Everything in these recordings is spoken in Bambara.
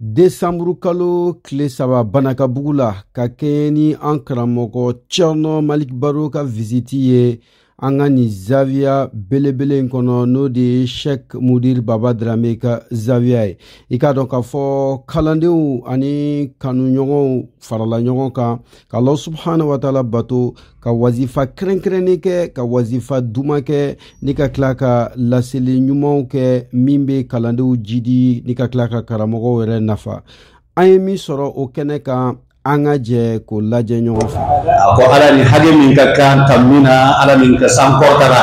desanburu kalo tile saba banakabugu la ka kɛɲɛ ni an karamɔgɔ cɛrnɔ malik baro ka visiti ye an ka nin zawiya belebele in kɔnɔ n'o de ye shek mudir baba drame ka zawiya ye i k'a dɔn k'a fɔ kalandenw ani kanuɲɔgɔnw farala ɲɔgɔn kan ka ala subahana wataala bato ka wazifa kɛrɛnkɛrɛnnen kɛ ka wazifa duman kɛ ni ka tila ka laseli ɲumanw kɛ min bɛ kalandenw jidi ni ka tila ka karamɔgɔw yɛrɛ nafa an ye min sɔrɔ o kɛnɛ kan an ka jɛ k'o lajɛ ɲɔgɔn fɛ a ko ala ni hakɛ min ka kan ka min na ala min ka san kɔrɔtara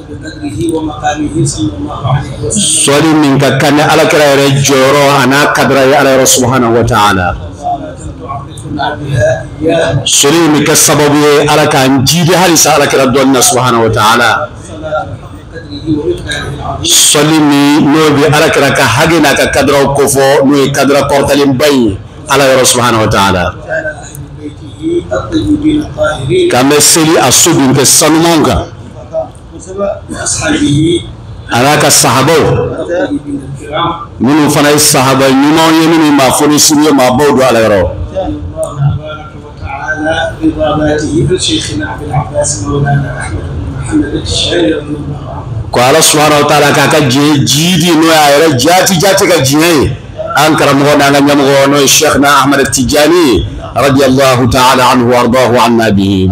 sɔli min ka kan ni alakira yɛrɛ jɔyɔrɔ a n'a kadira ye ala yɔrɔ subahanahu wa taala sɔli min bɛ kɛ sababu ye ala k'an jiidi halisa alakira dɔn na subahanahu wa taala sɔli min n'o bɛ alakira ka hakɛ n'a ka kadiraw kofɔ n'o ye kadira kɔrɔtalenba in ye ala yɔrɔ subahanahu wa taala k'an bɛ seli a so denkɛ sanumanw kan a n'a ka sahabaw minnu fana ye sahaba ɲumanw ye minnu maa fɔnisirew maabaw don ala yɔrɔ ko ala subahana wa taala k'a ka diɲɛ jidi n'o y'a yɛrɛ jaati jaati ka diɲɛ ye an karamɔgɔ n'an ka ɲɛmɔgɔ n'o ye sheikh na ahmed tijani ye radiyallahu taala anhu wardahu anna bihi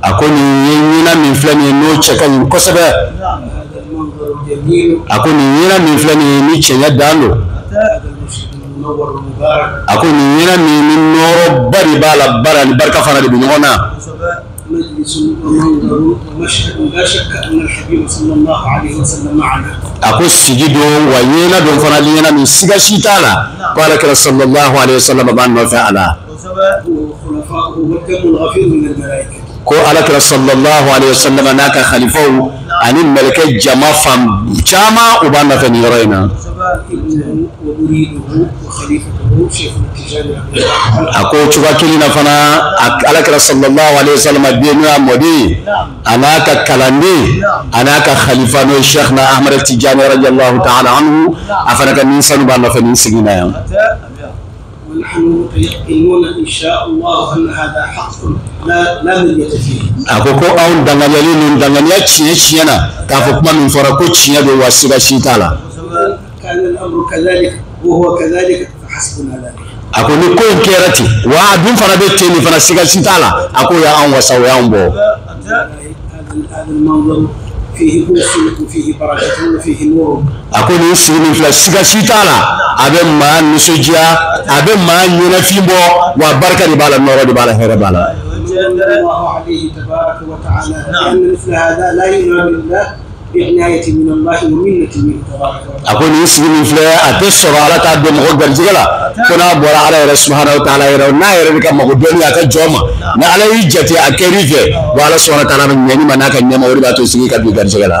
a ko nin ye ɲɛna min filɛ nin ye n'o cɛ ka ɲi kosɛbɛ a ko nin ɲɛna min filɛ nin ye ni cɛɲɛ dan don a ko nin ɲɛna min ni nɔɔrɔba de b'a la baara ni barika fana de bɛ ɲɔgɔn na a ko sigi don wa ɲɛna don fana ɲɛna min siga si t'a la ko alakira salalahu alehi wasalama b'an nɔfɛ a la ko alakira sɔrɔ sɔrɔ n'a ka kalifaw ani mkɛ jama fan caman u b'a nɔfɛ ni yɔrɔ in na a ko cogoya kelen na fana alakira sɔrɔ n'o y'a mɔden a n'a ka kalanden a n'a ka kalifa n'o sɛina amadu tɛ ja yɔrɔ ja ta a fana ka min sanu b'a nɔfɛ ni sigi na yan a ko ko anw danganiyalen ninnu danganiya tiɲɛ tiɲɛ na k'a fɔ kuma min fɔra ko tiɲɛ don wa siga si t'a la a ko ni ko in kɛra ten wa a dun fana bɛ ten nin fana siga si t'a la a ko o y'anw wasa o y'anw bɔ a ko nin sigi min filɛ siga si t'a la a bɛ maa nisɔndiya a bɛ maa ɲɛnafin bɔ wa barika de b'a la nɔɔrɔ de b'a la hɛrɛ b'a la a ko nin sigi min filɛ a tɛ sɔrɔ ala t'a don mɔgɔ garijɛgɛ la ko n'a bɔra ala yɛrɛ subahana taala yɔrɔ n'a yɛrɛ ka mago donni a ka jɔn ma ni ala y'i jate a kɛr'i fɛ wa ala subahana taala bɛ ɲɛni ma n'a ka nɛɛma o de b'a to sigi ka don garijɛgɛ la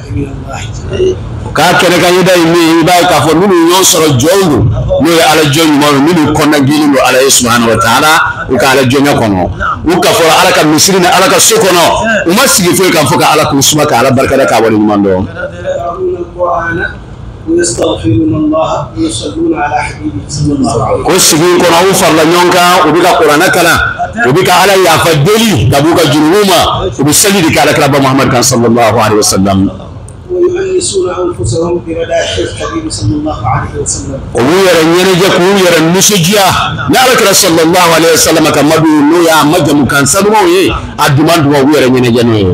k'a kɛnɛ ka yeda ye min i b'a ye k'a fɔ minnu ɲɔgɔn sɔrɔ jɔnw don n'o ye ala jɔn ɲumanw ye minnu kɔnɔna jɛlen don ala ye subahana wa taala u ka ala jɔnya kɔnɔ u kafora ala ka misiri ni ala ka so kɔnɔ u ma sigi foyi kama fo ka ala ko suma ka ala barikada k'a wale ɲuman dɔn ko sigi in kɔnɔ u farala ɲɔgɔn kan u bɛ ka kuranɛ kalan u bɛ ka ala yafa deli ka b'u ka jurumu ma u bɛ seli de kɛ ala kira ba muhamadu kan sallallahu alaihi wa sallam u b'u yɛrɛ ɲɛnajɛ k'u yɛrɛ nisɔndiya ni ala kira sallallahu alaihi wa sallam ka madu n'o y'a majamu kan sanumaw ye a duman duman u b'u yɛrɛ ɲɛnajɛ n'o ye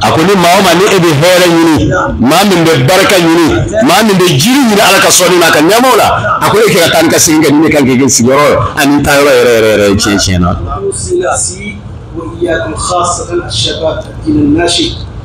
a ko ni maa o maa ni e bɛ hɛrɛ ɲini maa min bɛ barika ɲini maa min bɛ jiidi ɲini ala ka sɔnni n'a ka nɛɛmaw la a ko e ka taa ni ka segin kɛ ninnu kan k'i kɛ sigiyɔrɔ ye ani taa yɔrɔ yɛrɛ yɛrɛ yɛrɛ tiɲɛ tiɲɛ na.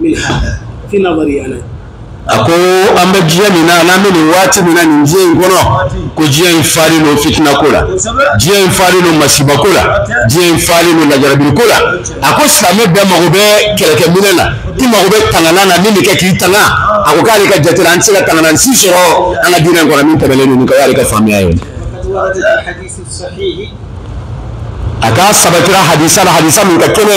min hada fi nazari ana a ko an bɛ diɲɛ min na n'an bɛ nin waati min na nin diɲɛ in kɔnɔ ko diɲɛ in falen don fitina ko la diɲɛ in falen don masiba ko la diɲɛ in falen don lajarabili ko la a ko silamɛ bɛɛ mago bɛ kɛlɛkɛminɛ na i mago bɛ tangana na min bɛ kɛ k'i tanga a ko k'ale ka jate la an tɛ se ka tangana si sɔrɔ an ka diinɛ in kɔnɔ min tɛmɛnen don nin kan o y'ale ka faamuya ye a k'a sabatira hadisa la hadisa min ka kɛnɛ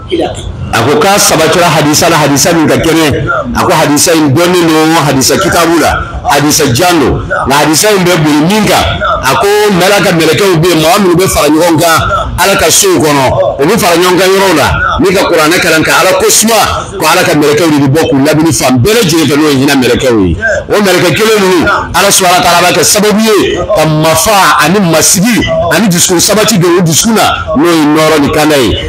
a ko k'a sabatira hadisa la hadisa min ka kɛnɛ a ko hadisa in dɔnnen don hadisa kitabu la hadisa jan don nka hadisa in bɛ boli min kan a ko ala ka mɛlɛkɛw bɛ yen mɔgɔ minnu bɛ fara ɲɔgɔn kan ala ka sow kɔnɔ u bɛ fara ɲɔgɔn kan yɔrɔw la ni ka kuranɛ kalan ka ala ko suma ko ala ka mɛlɛkɛw de bɛ bɔ k'u lamini fan bɛɛ lajɛlen fɛ n'o ye hinɛ mɛlɛkɛw ye o mɛlɛkɛ kelen ninnu ala subahana taala b'a kɛ sababu ye ka mafa ani masigi ani dusukun sabati don o dusukun na n'o ye nɔɔrɔ ni kanda ye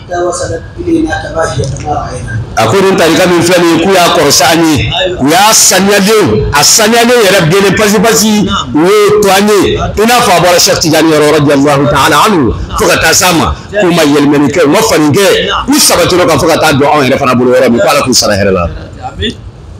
a ko nin tarika min filɛ nin ye k'u y'a kɔrɔsi an ye u y'a saniyalenw a saniyalenw yɛrɛ jɛlen pasi pasi u y'o to an ye i n'a fɔ a bɔra Cheikh Tidiane yɔrɔ radiyallahu taala anhu fo ka taa s'an ma k'u ma yɛlɛmɛni kɛ u ma falen kɛ u sabatira o kan fo ka taa don anw yɛrɛ fana bolo yɔrɔ min ko Ala k'u sara hɛrɛ la.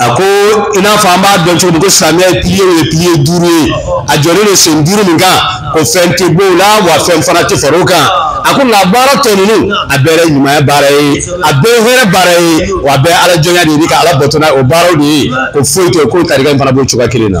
a ko i n'a fɔ an b'a dɔn cogo min ko silamɛya ye piliye ye piliye duuru ye a jɔlen don sen duuru min kan ko fɛn tɛ b'o la wa fɛn fana tɛ far'o kan a ko nka baara tɔ ninnu a bɛɛ ye ɲumanya baara ye a bɛɛ ye hɛrɛ baara ye wa a bɛɛ ye ala jɔnya de ye ka ala bato ni o baaraw de ye ko foyi t'o kɔ tarika in fana b'o cogoya kelen na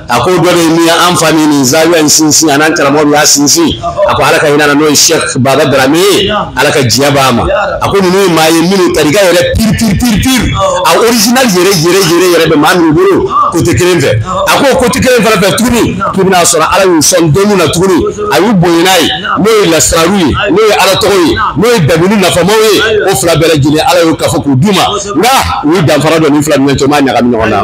a ko dɔ de min an fa ni nin zawiya in sinsin a n'an karamɔgɔ min y'a sinsin a ko ala ka hinɛ a la n'o ye sɛk baba darame ye ala ka diɲɛ b'a ma a ko ninnu ye maa ye minnu tarika yɛrɛ piri piri piri piri a original yɛrɛ yɛrɛ yɛrɛ yɛrɛ bɛ maa minnu bolo kote kelen fɛ a ko kote kelen fana fɛ tuguni k'i bɛn'a sɔrɔ ala y'u sɔn dɔnni na tuguni a y'u bonya n'a ye n'o ye lasiraru ye n'o ye ala tɔgɔ ye n'o ye dabini nafamaw ye o fila bɛɛ lajɛlen ala y'u kafo k'u d'u ma nka u ye danfara don nin fila ni ɲɔgɔn cɛ u m'a ɲagami ɲɔgɔn na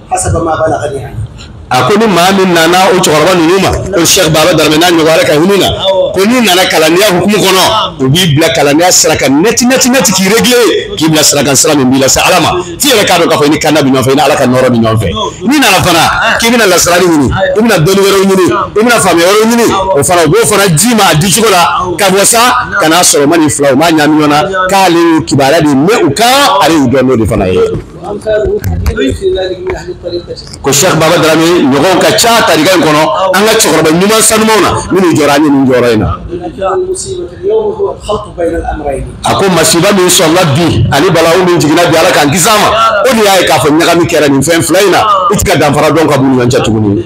a ko ni maa min nana o cɛkɔrɔba ninnu ma ko Cheikh Baba Darame n'a ɲɔgɔnw Ala ka hinɛ u la ko n'i nana kalandenya hukumu kɔnɔ u b'i bila kalandenya sira kan nɛti nɛti nɛti k'i réglé k'i bila sira kan sira min b'i lase Ala ma f'i yɛrɛ k'a dɔn k'a fɔ i ni kanda bɛ ɲɔgɔn fɛ i ni Ala ka nɔɔrɔ bɛ ɲɔgɔn fɛ n'i nana fana k'i bɛna lasirali ɲini i bɛna dɔnni wɛrɛw ɲini i bɛna faamuya wɛrɛw ɲini o fana u b'o fana d'i ma a di cogo la ka bɔ sa ka n'a sɔrɔ u ma nin fila u m'a ɲagami ɲɔgɔn na k'ale y'u kibaruya de mɛn u kan ale y'u dɔn n'o de fana ye ko Cheikh Baba Dramé ɲɔgɔn ka ca tarika in kɔnɔ an ka cɛkɔrɔba ɲuman sanumaw na minnu jɔra an ye nin jɔyɔrɔ in na a ko masiba min sɔrɔla bi ani balawu min jiginna bi ala k'an kisi a ma o de y'a ye k'a fɔ ɲagami kɛra nin fɛn fila in na i tɛ ka danfara dɔn ka b'u ni ɲɔgɔn cɛ tuguni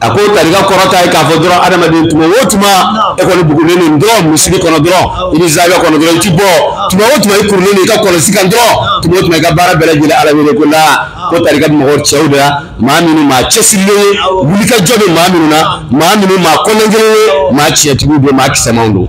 A ko tarika kɔrɔ tɛ k'a fɔ dɔrɔn adamaden tuma o tuma e kɔni bugulen nin dɔrɔn misiri kɔnɔ dɔrɔn ani zawiya kɔnɔ dɔrɔn i tɛ bɔ tuma o tuma i kurulen i ka kɔlɔsi kan dɔrɔn tuma o tuma i ka baara bɛɛ lajɛlen ala wele ko la ko tarika mako bɛ cɛw de la maa minnu maa cɛsirilenw wulikajɔ bɛ maa minnu na maa minnu maa kologɛlɛnw maa tiɲɛtigiw bɛ maa kisɛw don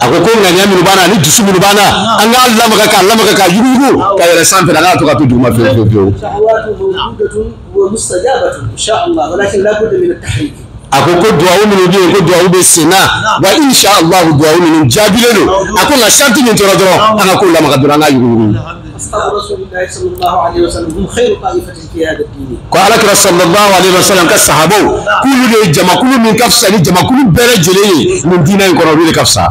a ko ko ŋaniya minnu b'an na ani dusu minnu b'an na an k'a lamaga k'a lamaga k'a yuguyugu k'a yɛlɛn sanfɛ an kan'a to ka to duguma fiyewu fiyewu fiyewu a ko ko duwawu minnu bɛ yen ko duwawu bɛ sen na wa insha allah duwawu minnu jaabilen don a ko nka sarati min tora dɔrɔn an ka ko lamaga dɔrɔn an k'a yuguyugu ko alakira sallallahu alaihi wasallam ka sahabaw k'olu de ye jamakulu min ka fisa ni jamakulu bɛɛ lajɛlen ye nin diinɛ in kɔnɔ olu de ka fisa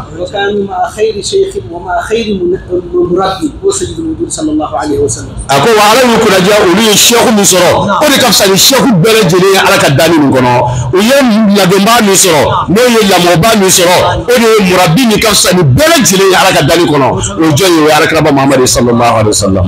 a ko wa ala y'u kunnadiya olu ye sɛku min sɔrɔ o de ka fisa ni sɛku bɛɛ lajɛlen ye ala ka danni nin kɔnɔ u ye ladonbaa min sɔrɔ n'o ye lamɔbaa min sɔrɔ o de ye murabi min ka fisa ni bɛɛ lajɛlen ye ala ka danni kɔnɔ o jɔn ye o ye alakiraba muhammad sallallahu alaihi wasallam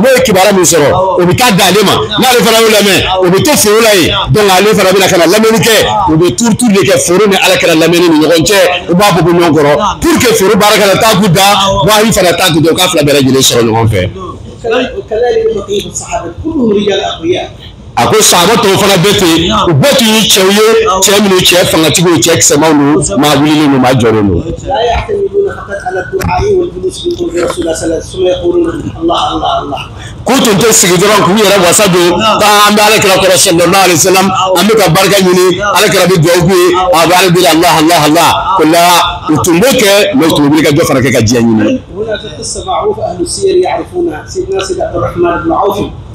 n'o ye kibaruya min sɔrɔ o bɛ taa d'ale ma n'ale fana y'o lamɛn o bɛ to foro la yen donc ale fana bɛna ka na lamɛnni kɛ u bɛ tour tour de kɛ foro ni alakira lamɛnni ni ɲɔgɔn cɛ u b'a bɔ bɔ ɲɔgɔn kɔrɔ pour que foro baara kana taa k'u dan wahi fana taa k'u dan u k'a fila bɛɛ lajɛlen sɔrɔ ɲɔgɔn fɛ. a ko sahaba tɔw fana bɛ ten u bɛɛ tun ye cɛw ye cɛ minnu cɛ fangatigiw cɛ kisɛmaw don maa wulilen don maa jɔlen don k'u tun tɛ sigi dɔrɔn k'u yɛrɛ wasa don k'an bɛ alakira kɔrɔ sallallahu alaihi wasallam an bɛ ka barika ɲini alakira bɛ dugawu k'u ye a bɛ ala deli allah allah allah ko la u tun b'o kɛ mais u tun bɛ wuli ka dɔ fana kɛ ka diɲɛ ɲini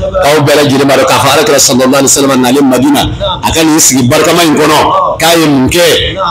aw bɛɛ lajɛlen b'a dɔn k'a fɔ alakira sallallahu alaihi wasallam nalen madina a ka nin sigi barikama in kɔnɔ k'a ye mun kɛ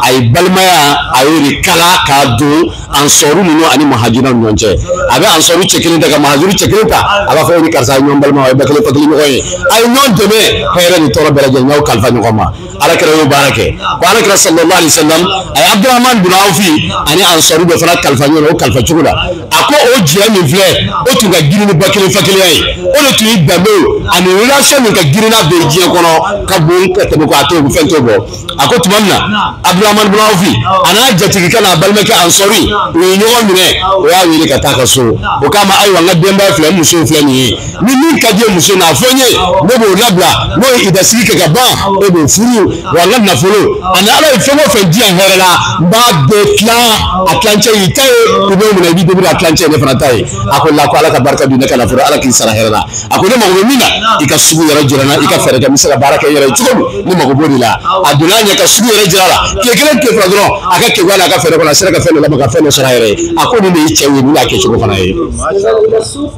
a ye balimaya a y'o de kala k'a don ansaru ninnu ani muhajiruna ni ɲɔgɔn cɛ a bɛ ansaru cɛ kelen ta ka muhajiru cɛ kelen ta a b'a fɔ e ni karisa ye ɲɔgɔn balima a ye ba kelen fa kelen ɲɔgɔn ye a ye ɲɔgɔn dɛmɛ hɛrɛ ni tɔɔrɔ bɛɛ lajɛlen n y'aw kalifa ɲɔgɔn ma alakira y'o baara kɛ ko alakira sallallahu alaihi wasallam a ye abdurahman bin awfi ani ansaru bɛɛ fana kalifa ɲɔgɔn na o kalifa cogo la a ko o jɛ min filɛ o tun ka girin ni ba kelen fa kelenya ye o de tun ye danbe ani relation min ka girin n'a bɛɛ diɲɛ kɔnɔ ka bon ka tɛmɛ ko a t'o fɛn t'o bɔ a ko tuma min na abdurahman bin awfi a n'a jatigikɛ n'a balimakɛ ansaru u ye ɲɔgɔn minɛ o y'a wele ka taa a ka so o k'a ma ayiwa n ka denbaya filɛ n musow filɛ nin ye ni min ka d'i ye muso na a fɔ n ye ne b'o labila n'o ye ida sigi kɛ ka ban e b'o furu wa n ka nafolo ani ala ye fɛn o fɛn di yan hɛrɛ la n b'a bɛɛ tilan a tilancɛ y'i ta ye i b'o minɛ i b'i débrouiller a tilancɛ ye ne fana ta ye a ko la ko ala ka barika don i ka nafolo ala k'i sara hɛrɛ la a ko ne mago bɛ min na i ka sugu yɔrɔ jira n na i ka fɛɛrɛ kɛ n bɛ se ka baara kɛ n yɛrɛ ye cogo min ne mago b'o de la a donna a ɲɛ ka sugu yɔrɔ jira a la tile kelen tile fila dɔrɔn a ka kekuya n'a ka fɛɛrɛ kɔnɔ a sera ka fɛn dɔ labɛn ka fɛn dɔ sɔrɔ a yɛrɛ ye a ko nin de ye cɛ ye nin y'a kɛcogo fana ye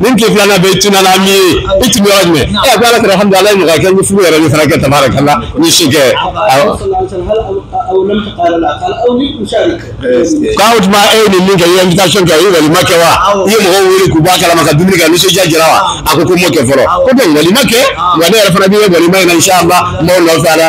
nin tile filanan bɛ tununna min ye i tun bɛ yɔrɔ jumɛn ɛ ko alakira hamdulillah ala ye nɔgɔya kɛ n ye furu yɛrɛ min fana kɛ tabarakallah n ye si kɛ awɔ k'o tuma e ye nin min kɛ i ye invitation kɛ i ye walima kɛ wa i ye mɔgɔw wele k'u bɔ a kalama ka dumuni kɛ nisɔndiya jira wa a ko ko n m'o kɛ fɔlɔ ko bɛn walima kɛ wa ne yɛrɛ fana b'i ye walima in na inshallah n b'aw nɔfɛ a la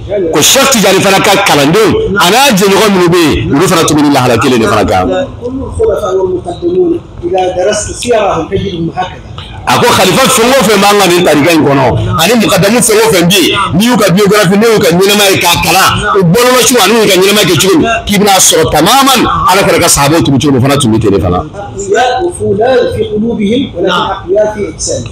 ko Cheikh Tidiane fana ka kalandenw a n'a jɛɲɔgɔn minnu bɛ yen olu fana tun bɛ nin lahala kelen de fana kan a ko kalifa fɛn o fɛn b'an ka nin tarika in kɔnɔ ani mukadamu fɛn o fɛn bɛ yen n'i y'u ka biografi n'i y'u ka ɲɛnamaya ye k'a kalan u balola cogo ani u ka ɲɛnamaya kɛ cogo min k'i bɛn'a sɔrɔ tamaman ala kira ka sahabaw tun bɛ cogo min fana tun bɛ ten de fana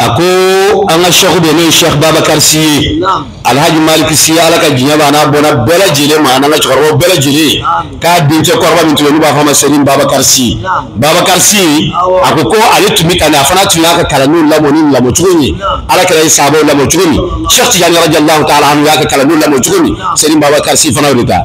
a ko an ka shɛku de n'o ye shɛku babakari si ye alhaji maliki si ye ala ka diɲɛ b'a n'a bɔnna bɛɛ lajɛlen ma an'an ka cɛkɔrɔbaw bɛɛ lajɛlen k'a dencɛ kɔrɔba min tun bɛ yen u b'a fɔ a ma sɛrin babakari si babakari si a ko ko ale tun bɛ tan a fana tun y'a ka kalandenw lamɔ nin lamɔ cogo min ala kira ye sahabaw lamɔ cogo min shɛku tijani radiyalahu taala anhu y'a ka kalandenw lamɔ cogo min sɛrin babakari si fana y'o de ta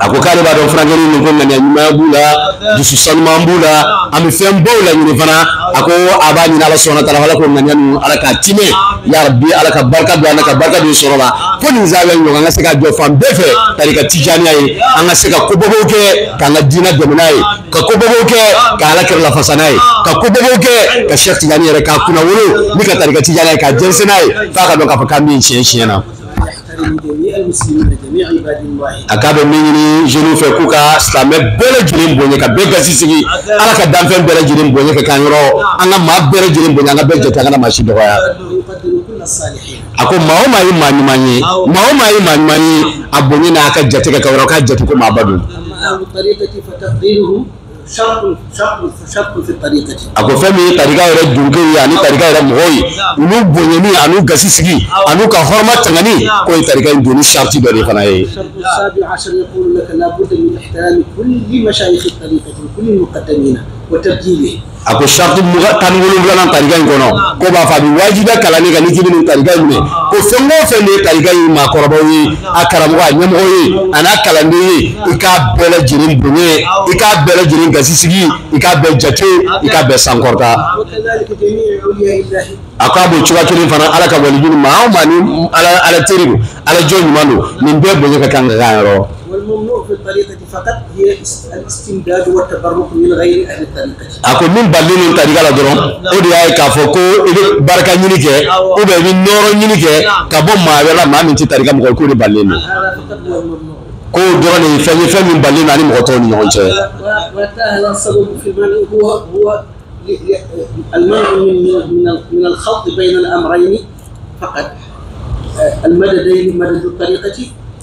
a ko k'ale b'a dɔn furakɛ min ko ŋaniya ɲuman b'u la dusu sanuman b'u la an bɛ fɛn baw la ɲini fana a ko a b'a ɲini ala subhana taala la ko ŋaniya ninnu ala k'a tiimɛ ya rabi ala ka barika don a la ka barika don sɔrɔ la ko nin zan bɛ ɲɔgɔn an ka se ka jɔ fan bɛɛ fɛ tarika tijaniya ye an ka se ka kobabaw kɛ k'an ka diinɛ dɛmɛ n'a ye ka kobabaw kɛ ka ala kira lafasa n'a ye ka kobabaw kɛ ka shɛku tijani yɛrɛ k'a kunnawolo ni ka tarika tijaniya ye k'a jɛnsɛn n'a ye f'a ka dɔn k'a fɔ k'an bɛ tiɲɛ tiɲɛ na a k'a bɛ min ɲini jeunes fɛ k'u ka silamɛ bɛɛ lajɛlen bonya ka bɛɛ gasi sigi ala ka danfɛn bɛɛ lajɛlen bonya ka k'an yɛrɛ an ka maa bɛɛ lajɛlen bonya an ka bɛɛ jate an kana maa si dɔgɔya a ko maa o maa ye maa ɲuman ye maa o maa ye maa ɲuman ye a bonya n'a ka jate k'a yɛrɛ k'a jate ko maaba don a ko fɛn min ye tarika yɛrɛ dungew ye ani tarika yɛrɛ mɔgɔw ye olu bonyani an'u gasi sigi an'u ka hɔrɔma tangani k'o ye tarika in donni sariti dɔ de fana ye a ko sariti tan ni wolonwulanan tarika in kɔnɔ k'u b'a fɔ a bɛ wajibiya kalanden kan n'i k'i bɛ nin tarika in minɛ ko fɛn o fɛn de ye tarika in maakɔrɔbaw ye a karamɔgɔ a ɲɛmɔgɔ ye a n'a kalanden ye i k'a bɛɛ lajɛlen bonya i k'a bɛɛ lajɛlen gasisigi i k'a bɛɛ jate i k'a bɛɛ sankɔrɔta a ko a b'o cogoya kelen fana ala ka walijuw ni maa o maa ni ala teri don ala jɔn ɲuman don nin bɛɛ bonya ka kan ka kan yɛrɛ A ko min balen don tarika la dɔrɔn o de y'a ye k'a fɔ ko i bɛ barika ɲini kɛ ou bien i bɛ nɔɔrɔ ɲini kɛ ka bɔ maa wɛrɛ la maa min tɛ tarika mɔgɔ k'o de balen don k'o dɔrɔn de ye fɛn ye fɛn min balen don an ni mɔgɔ tɔw ni ɲɔgɔn cɛ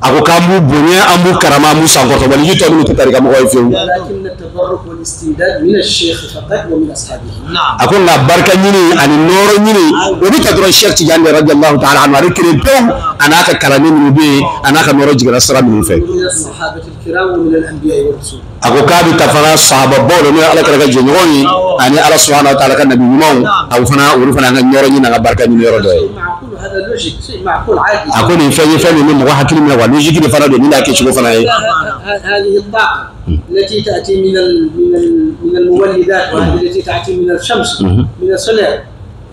a ko k'an b'u bonya an b'u karama an b'u sankɔrɔta waliju tɔ minnu tɛ tarika mɔgɔ ye fiyewu a ko nka barika ɲini ani nɔɔrɔ ɲini o bɛ ta dɔrɔn sɛki tijani radiyallahu taala anu ale kelen don a n'a ka kalanden minnu bɛ yen a n'a ka nɔɔrɔ jiginna sira minnu fɛ a ko k'a bɛ ta fana sahabaw bolo n'o ye alakira jɛɲɔgɔn ye ani ala subahana wa taala ka nabi ɲumanw a fana olu fana ka nɔɔrɔ ɲini ka barika ɲini yɔrɔ dɔ ye a ko nin fɛn ye fɛn min ni mɔgɔ hakili minɛ wa logique de fana don min' kɛ cogo fana ye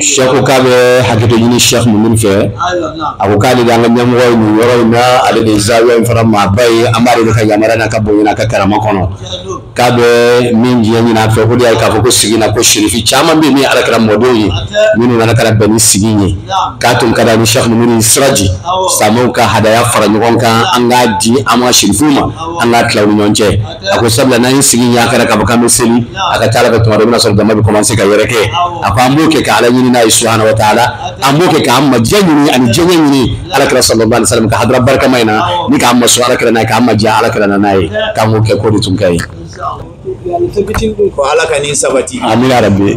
sɛku k'a bɛ hakɛto ɲini sɛku Muniru fɛ a ko k'ale de an ka ɲɛmɔgɔ ye nin yɔrɔ in na ale de ye zawiya in fana maaba ye an b'ale de ka yamaruya n'a ka bonya n'a ka karama kɔnɔ k'a bɛ min diɲɛ ɲini a fɛ o de y'a ye k'a fɔ ko sigi na ko sirifi caman bɛ yen min ye alakira mɔdenw ye minnu nana ka na bɛn ni sigi in ye k'a tun ka di ani sɛku Muniru ni siraji silamɛw ka hadaya fara ɲɔgɔn kan an k'a di an ka sirifiw ma an k'a tila u ni ɲɔgɔn cɛ a ko sabula n'an ye sigi ɲa kɛra k'a fɔ k'an bɛ seli a ka ca ala fɛ tuma dɔ i bɛna sɔrɔ jama bɛ kɔmanse ka yɛrɛkɛ a ko an b'o kɛ ka ala ɲini n'a ye subahana wa taala an b'o kɛ k'an ma diya ɲini ani diya ɲini alakira sallallahu alaihi wasallam ka hadara barikama in na ni k'an masurunya alakira n'a ye k'an ma diya alakira n'a ye k'an k'o kɛ k'o de tun ka ɲi ko ala ka nin sabati amina yarabi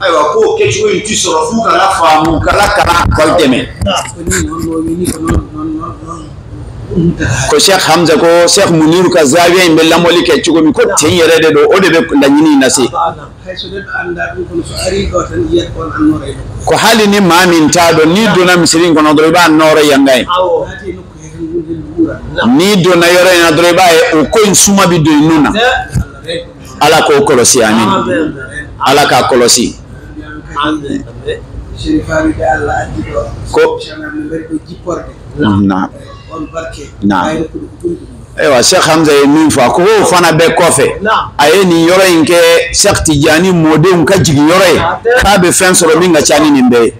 ayiwa k'o kɛcogo in ti sɔrɔ f'u kana faamu kala kalan k'aw dɛmɛ ko Cheikh Hamza ko Cheikh Muniru ka zawiya in bɛ lamɔli kɛ cogo min ko ten yɛrɛ de don o de bɛ laɲini in lase ko hali ni maa min t'a dɔn n'i donna misiri in kɔnɔ dɔrɔn i b'a nɔɔrɔ yanga ye n'i donna yɔrɔ in na dɔrɔn i b'a ye o ko in suma bɛ don i nun na ala k'o kɔlɔsi amin ala k'a kɔlɔsi ko ayiwa Cheikh Hamza ye min fɔ a ko o fana bɛɛ kɔfɛ a ye nin yɔrɔ in kɛ sɛki tijani mɔdenw ka jigin yɔrɔ ye k'a bɛ fɛn sɔrɔ min ka ca ni nin bɛɛ ye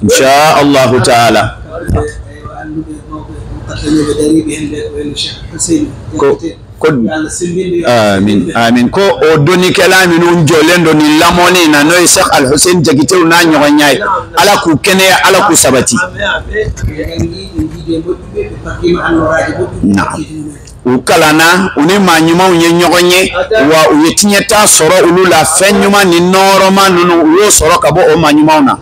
insa alahu taala ko ko amin amin ko o donnikɛla minnu jɔlen don nin lamɔni na n'o ye Cheikh Al Hussein Jakitew n'a ɲɔgɔnnaw ye ala k'u kɛnɛya ala k'u sabati na u kalanna u ni maa ɲumanw ye ɲɔgɔn ye wa u ye tiɲɛta sɔrɔ olu la fɛn ɲuman ni nɔɔrɔma ninnu u y'o sɔrɔ ka bɔ o maa ɲumanw na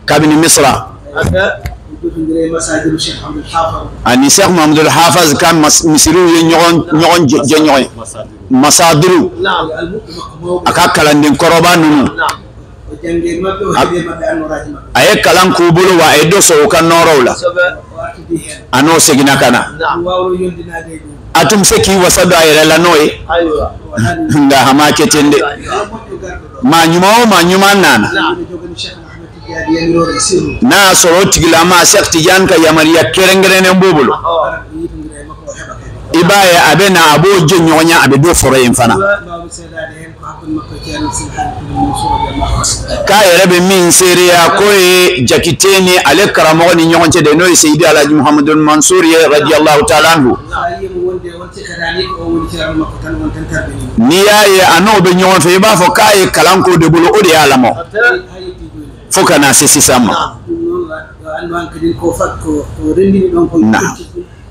kabini misira ani Seku Muhamadul Hafizi ka misiriw ye ɲɔgɔn jɛɲɔgɔnya masadiru a ka kalanden kɔrɔba ninnu a ye kalan k'u bolo wa a ye dɔ sɔrɔ u ka nɔɔrɔw la a n'o seginna ka na a tun bɛ se k'i wasa don a yɛrɛ la n'o ye nka a m'a kɛ ten dɛ maa ɲuman o maa ɲuman nana n'a y'a sɔrɔ o tigilama Seku Tijani ka yamaruya kɛrɛnkɛrɛnnen b'o bolo i b'a ye a bɛ na a b'o jɛɲɔgɔnya a bɛ dɔ sɔrɔ yen fana k'a yɛrɛ bɛ min seereya k'o ye Jakite ni ale karamɔgɔ ni ɲɔgɔn cɛ de n'o ye Seyidi Alaji Muhamadu Mansuru ye radiyallahu taala anhu N'i y'a ye a n'o bɛ ɲɔgɔn fɛ i b'a fɔ k'a ye kalan k'o de bolo o de y'a lamɔ fo ka na se sisan ma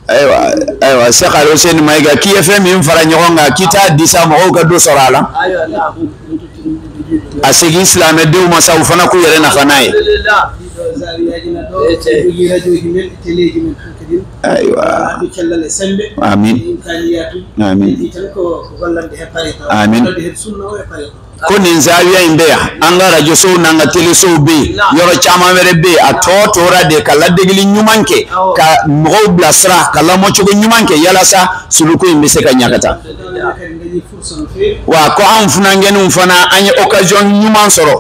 ayiwa ayiwa Seku Alusɛni Mayiga k'i ye fɛn min fara ɲɔgɔn kan k'i t'a di sa mɔgɔw ka dɔ sɔrɔ a la a segin silamɛdenw ma sa u fana k'u yɛrɛ nafa n'a ye aywa amin amin amin ko nin zawiya in bɛ yan an ka arajosow n'an ka telesow bɛ yen yɔrɔ caman wɛrɛ bɛ yen a tɔ tora de ka ladegeli ɲuman kɛ ka mɔgɔw bilasira ka lamɔcogo ɲuman kɛ yalasa suluku in bɛ se ka ɲa ka taa wa ko anw funankɛninw fana an ye occasion ɲuman sɔrɔ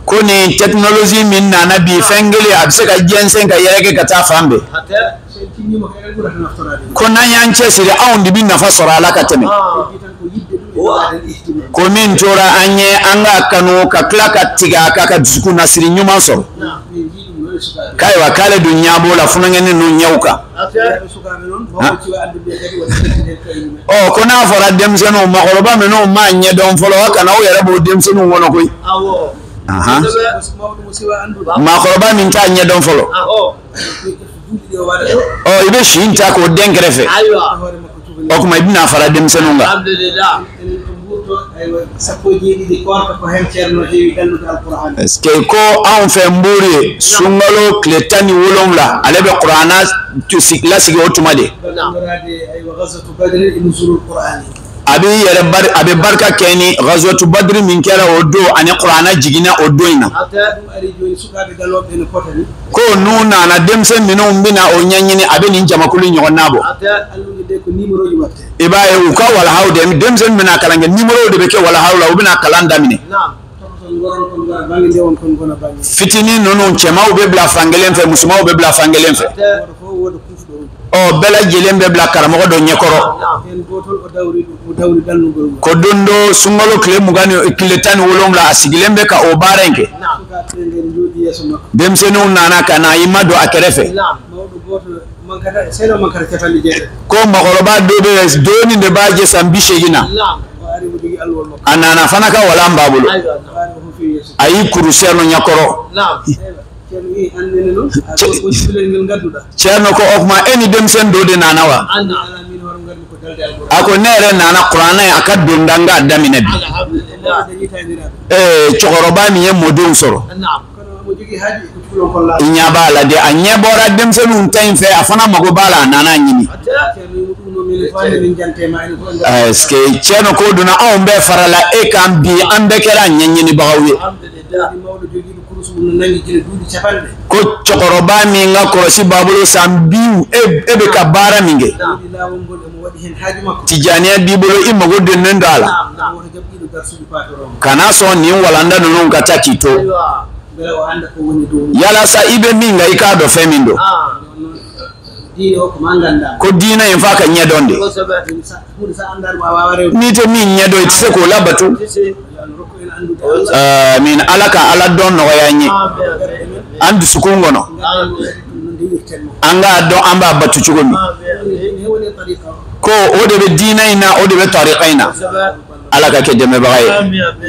ko nin technologie min nana bi fɛn kelen a bɛ se ka jɛnsɛn ka yɛrɛkɛ ka taa fan bɛɛ ko n'an y'an cɛsiri anw de bɛ nafa sɔrɔ a la ka tɛmɛ ko min tora an ye an k'a kanu ka tila ka tigɛ a kan ka dusukunnasiri ɲuman sɔrɔ k'ayiwa k'ale dun ɲɛ b'o la funankɛnin ninnu ɲɛw kan ɔ ko n'a fɔra denmisɛnninw maakɔrɔba minnu m'a ɲɛdɔn fɔlɔ aw kana aw yɛrɛ b'o denmisɛnninw kɔnɔ koyi maakɔrɔba min t'a ɲɛdɔn fɔlɔ Ɔ i bɛ si in ta k'o dɛn kɛrɛfɛ o tuma i bɛna fara denmisɛnninw kan parce que ko anw fɛ Mburu yen sunkalo tile tan ni wolowula ale bɛ kuranɛ lasigi o tuma de a bɛ a bɛ barika kɛ ni Gazuwatu Badiri min kɛra o don ani kuranɛ jiginna o don in na ko n'u nana denmisɛn minnu bɛna o ɲɛɲini a bɛ nin jamakulu ɲɔgɔnna bɔ i b'a ye u ka walahaw de denmisɛn bɛna kalan kɛ numéro de bɛ kɛ walahaw la u bɛna kalan daminɛ fitinin ninnu cɛmanw bɛ bila fan kelen fɛ musomanw bɛ bila fan kelen fɛ u bɛɛ lajɛlen bɛ bila karamɔgɔ dɔ ɲɛkɔrɔ ko don dɔ sunkalo tile mugan ni tile tan ni wolonwula a sigilen bɛ ka o baara in kɛ denmisɛnninw nana ka na i madon a kɛrɛfɛ ko mɔgɔkɔrɔba dɔ bɛ yen dɔɔnin de b'a jɛ san bi seegin na a nana fana ka walan b'a bolo a y'i kuru cɛrno ɲɛkɔrɔ cɛrno ko o tuma e ni denmisɛn dɔ de nana wa a ko ne yɛrɛ nana kuranɛ a ka donda n k'a daminɛ bi ee cɛkɔrɔba min ye mɔdenw sɔrɔ i ɲɛ b'a la de a ɲɛ bɔra denmisɛnninw ta in fɛ a fana mago b'a la a nana a ɲini est-ce que cɛrno ko donna anw bɛɛ farala e kan bi an bɛɛ kɛra ɲɛɲinibagaw ye Ko cɛkɔrɔba min ka kɔlɔsi b'a bolo san bi e bɛ ka baara min kɛ tijaniya b'i bolo i mago donnen don a la kana sɔn nin walanda ninnu ka taa k'i to yalasa i bɛ min kan i k'a dɔn fɛn min don ko diinɛ in f'a ka ɲɛdɔn de n'i tɛ min ɲɛdɔn i tɛ se k'o labato min ala ka ala dɔn nɔgɔya an ye an dusukun kɔnɔ an k'a dɔn an b'a bato cogo min ko o de bɛ diinɛ in na o de bɛ tarika in na ala ka kɛ dɛmɛbaga ye